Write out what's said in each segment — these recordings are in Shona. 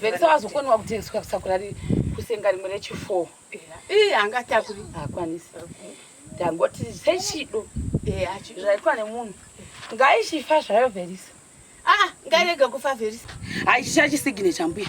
Vekisa wazokoniwa kutengeswa kusakura kusenga rimwe rechi4 iye angatakuri hakwanisi ndangoti sechido zvaitwa nemunhu ngaichifa zvayo verisa ah, ngairega kufa verisa haichicha chisigine chambuya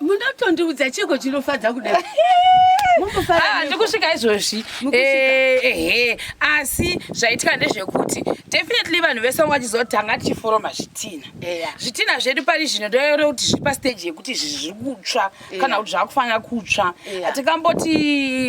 Munotondiudza chiko chinofadza kudai. Ah, ndikusvika izvozvi eh, ehe asi zvaitika ndezvekuti definitely vanhu vese vanga vachizotanga tichiforoma zvitina zvitina zvedu pari zvino ndoyore kuti zviri pasteji yekuti izvi zviri kutsva kana kuti zvakufanira kutsva hatikamboti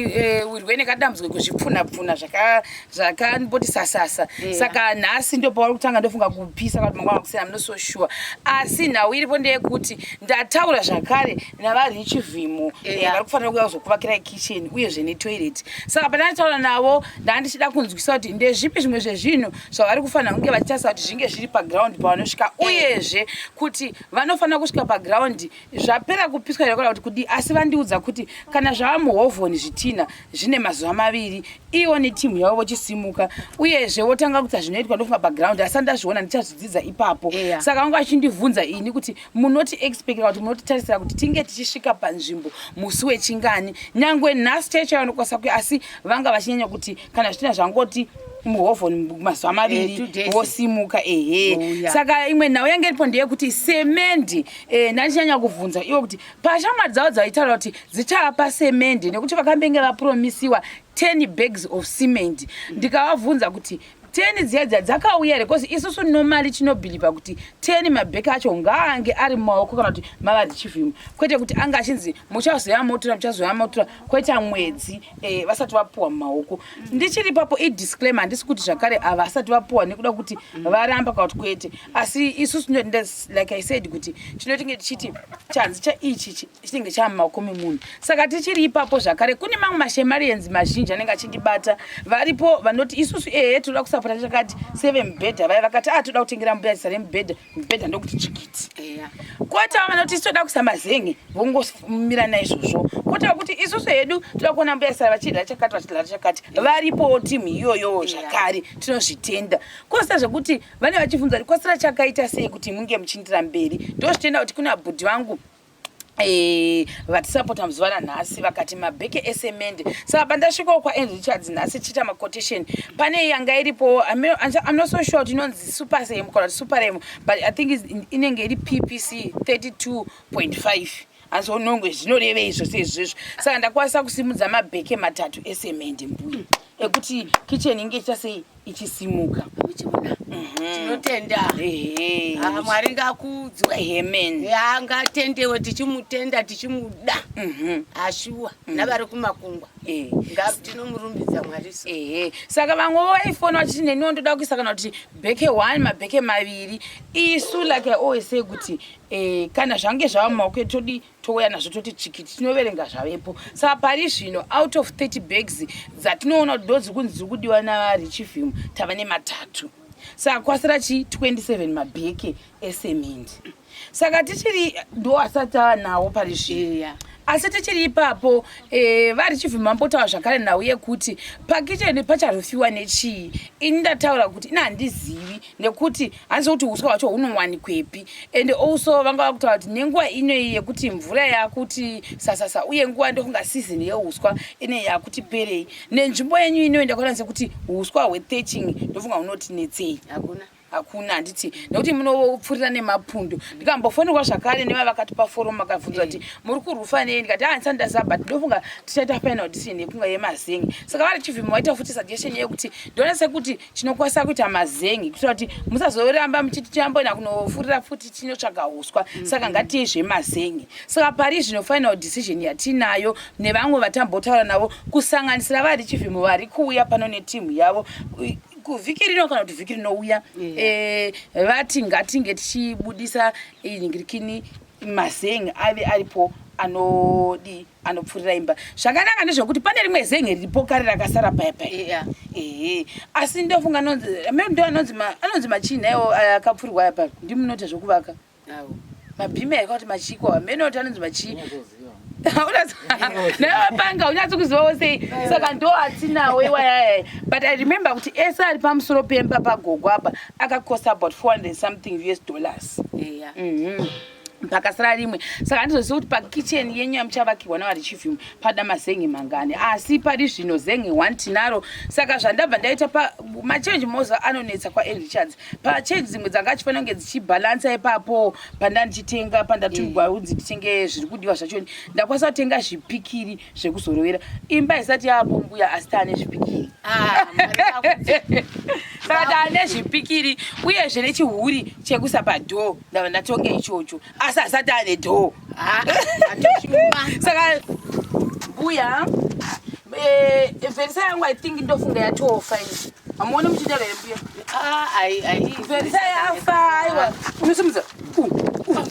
eh, wirwe nekadambudziko kuzvipfunapfuna zvaka zvakamboti sasasa yeah. saka nhasi ndo pauri kutanga ndofunga kupisa kana mangwana kusina i'm not so sure asi nhau iripo ndeyekuti ndataura zvakare navarichi vhimo yeah. yeah, vari kufanira kuuya kuzokuvakirai kitchen uyezve netoilet saka pandanditaura navo ndandichida kunzwisa kuti ndezvipi zvimwe zvezvinhu zvavari kufanira kunge vachitarisa kuti zvinge zviri paground pavanosvika uyezve kuti vanofanira kusvika paground zvapera kupiswa here kuda kuti kudii asi vandiudza kuti kana zvava muhovhoni zvitina zvine mazuva maviri ivo netimu yavo vochisimuka uyezve votanga kutsa zvinoitwa ndofa background asi andazviona ndichazvidzidza ipapo yeah. saka vanga vachindibvunza ini kuti munoti expecta kuti munotitarisira kuti tinge tichisvika panzvimbo musi wechingani nyange nhasi chaicho yavanokwasa kuya asi vanga vachinyanya kuti kana zvitina zvangoti muhovhoni mazuva eh, maviri vosimuka ehe oh, saka imwe nhau yange iripo ndeyekuti semendi eh, ndandichanyanya kubvunza ivo kuti pashamwari dzavo dzaitaura kuti dzichapa semendi nekuti vakambenge vapromisiwa 10 bags of cement ndikavabvunza kuti teni dziya dziya dzakauya here bcause isusu nomali tinobhiliva kuti teni mabheki acho ngaange ari mumaoko kana kuti mavadzchivhimo kwete kuti ange achinzi muchazoya motora muchazoya motora kwete mwedzi eh, vasati vapuwa mumaoko ndichiri papo idisclaimer handisi kuti zvakare ava asati vapuwa nekuda kuti varamba kana kuti kwete asi isu tinoenda like i said kuti tinotinge tichiti chanzi chaichi chi- chinenge chava mumaoko memunhu saka tichiri ipapo zvakare kune mamwe mashemarians mazhinji anenge achindibata varipo vanoti isusu ehe tinoda kusapota chakati sevemubhedha vaya vakati ah toda kutengera mbuya zita remubhedha mubhedha ndokuti chikiti yeah. kota vanoti isu toda kusa mazen'e vongomira naizvozvo kota kuti isusu hedu toda kuona mbuya sara vachidya chakati vachidya chakati varipowo timu iyoyowo zvakare yeah. tinozvitenda kosa zvekuti vane vachibvunza kuti kwasara chakaita sei kuti munge muchiindira mberi ndozvitenda kuti kuna bhudhi vangu Eh, vatisapota muzuva ranhasi vakati mabheke esemende saka pandasvikawo kwaen richards nhasi tichiita macotation pane yanga iripo im not so sure kuti inonzi supersem kana kuti superem but i think inenge iri ppc 32.5 azonongwe zvinorevei zvose izvizvo saka ndakwanisa kusimudza mabheke matatu esemende mbuya ekuti kitchen inge ichita sei ichisimuka uchiona mhm. tinotenda ah, mwari ngakudzwe hemeni angatendewe tichimutenda tichimuda mhm. ashuwa mhm. navari kumakungwa eh. tinomurumbiza mwari ehe saka vamwe vaifona vachiti neniwo ndoda kuisa kana kuti bheke one mabheke maviri isu like i always say kuti eh, kana zvange zvava mumaoko etodi touya nazvo toti chikiti tinoverenga zvavepo saka pari zvino out of 30 bags dzatinoona kuti ndodzi kunzi dziri kudiwa narichivim tava nematatu saka kwasira chi 27 mabheke esemend saka tichiri ndo asati ava nawo pari zvino yeah asi tichiri ipapo eh, vari chivhimambotaura zvakare nhau yekuti pakicheni pacharufiwa nechii ini ndataura kuti ini handizivi nekuti handiziva kuti uswa hwacho hunowanikwepi and also vanga vakutaura kuti nenguva inoyi yekuti mvura yakuti sasasa uye nguva ndokunga season yeuswa ine yakuti perei nenzvimbo yenyu inoyi ndakaona sekuti uswa hwetheching ndofunga hunotinetsei hakuna hakuna handiti nekuti munopfurira nemapundu ndikambofonerwa zvakare neva vakatipa forum akabvunza kuti muri kurwufa nei ndikati handisati ah, ndaziva but ndofunga tichaita final decision yekunga yemazengi saka vari chivhimi waita futi suggestion yekuti ndona sekuti chinokwasa kuita mazengi kuitira kuti musazoramba muchiti chamboenda kunofurira futi tinotsvaga huswa mm-hmm. saka ngatiye zvemazengi saka pari zvino final decision yatiinayo nevamwe vatambotaura navo kusanganisira vari chivhimo vari kuuya pano netimu yavo kuvhiki rino kana kuti vhiki rinouya eh, vati ngatinge tichibudisa inhingirikini mazengi ave aripo anodii anopfurira imba zvakanaka ndezvekuti pane rimwe zenhe riripo kare rakasara paya paya ehe asi ndofunga anonzi amene ndo anonzi anonzi machinha iwo akapfurirwa aya paya ndi munota zvekuvaka mabhimi aika kuti machiko amene oti anonzi machii nevapanga unyatsi kuzivawo sei saka ndo atinawo iwayaya but i remember kuti ese ari pamusoro pemba pagogo apa akacost about 400 something us dollars yeah. mm -hmm. pakasara rimwe saka handizozivi kuti pakitchen yenyu yamuchavakirwa navari chief yumwe pada mazenge mangani asi pari zvino zenge one tinaro saka zvandabva ndaita pamachange moza anonetsa kwaerichards pachange dzimwe dzanga achifanira kunge dzichibhalansa ipapo pandandichitenga pandatumigwa mm. unzi nditenge zviri kudiwa zvachoni ndakwanisa kutenga zvipikiri zvekuzorovera imba haisati yaapo mbuya asi taane zvipikiri ah, saka taane zvipikiri uyezve nechihuri chekusapa dhoo ndava ndatonga ichocho asi hasati ane dhoo ah, saka mbuya eh, vherisa yangu i think ndofunga yatofa ini hamuone muchitera here mbuya ah, vherisa yafa aiwa unosimudza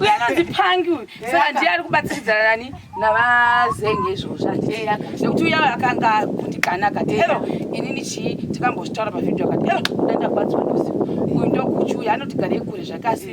uyanonzipangi uyu saka ndiye ari kubatsiridzana nani navazenge izvozvo anditeya nekuti uya akanga akundikana akati ero inini chii tikambozvitaura pavhidhio akati ero ndaenda kubatswa nozivo uyu ndokuchi uyu anotigarei kure zvakasi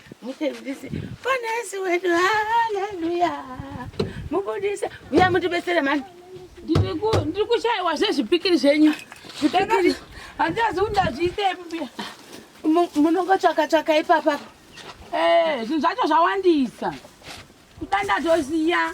Mutendisi Bwana Yesu wedu, haleluya. Mubudise, uya mutibetsere mani. Ndiri kushaiwa zvezvipikiri zvenyu. Zvipikiri. Handazi kuti ndazviite mbuya. Munongotsvaka tsvaka ipapa. Eh, zvinhu zvacho zvawandisa. Kudanda tosiya.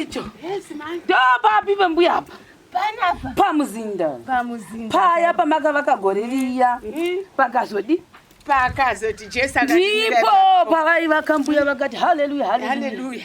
icho ndopapi pembuya apa pamuzinda paya pamakavaka gore riya hmm? pakazodi pakazoti jesu ndipo pavaivaka mbuya vakati haleluya haleluya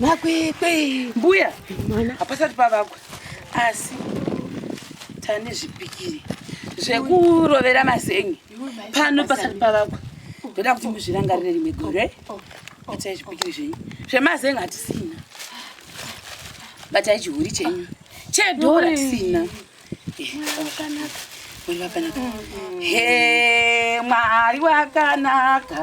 makwekwe mbuya mwana hapasati pavakwa asi tane zvipikiri zvekurovera mazengi pano pasati pavakwa ndoda kuti muzvirangarire rimwe gore atai zvipikiri zvenyu zvemazengi hatisina batai chihuri chenyu chedhora tisina mwari wakanaka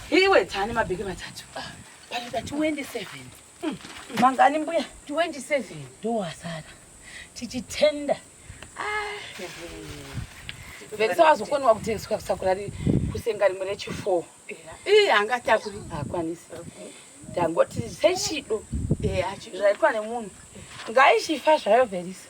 Iwe tani mabheke matatu. Panoda 27. Mm. Mangani mbuya? 27. Ndowasara. Tichitenda. Ah. Vekisa wazokoniwa kutengeswa kusakura kusenga rimwe rechifour. Iye angatakuri. Hakwanisi. Ndangoti sechido. Eya. Zvaitwa nemunhu. Ngaichifa zvayo Verisa.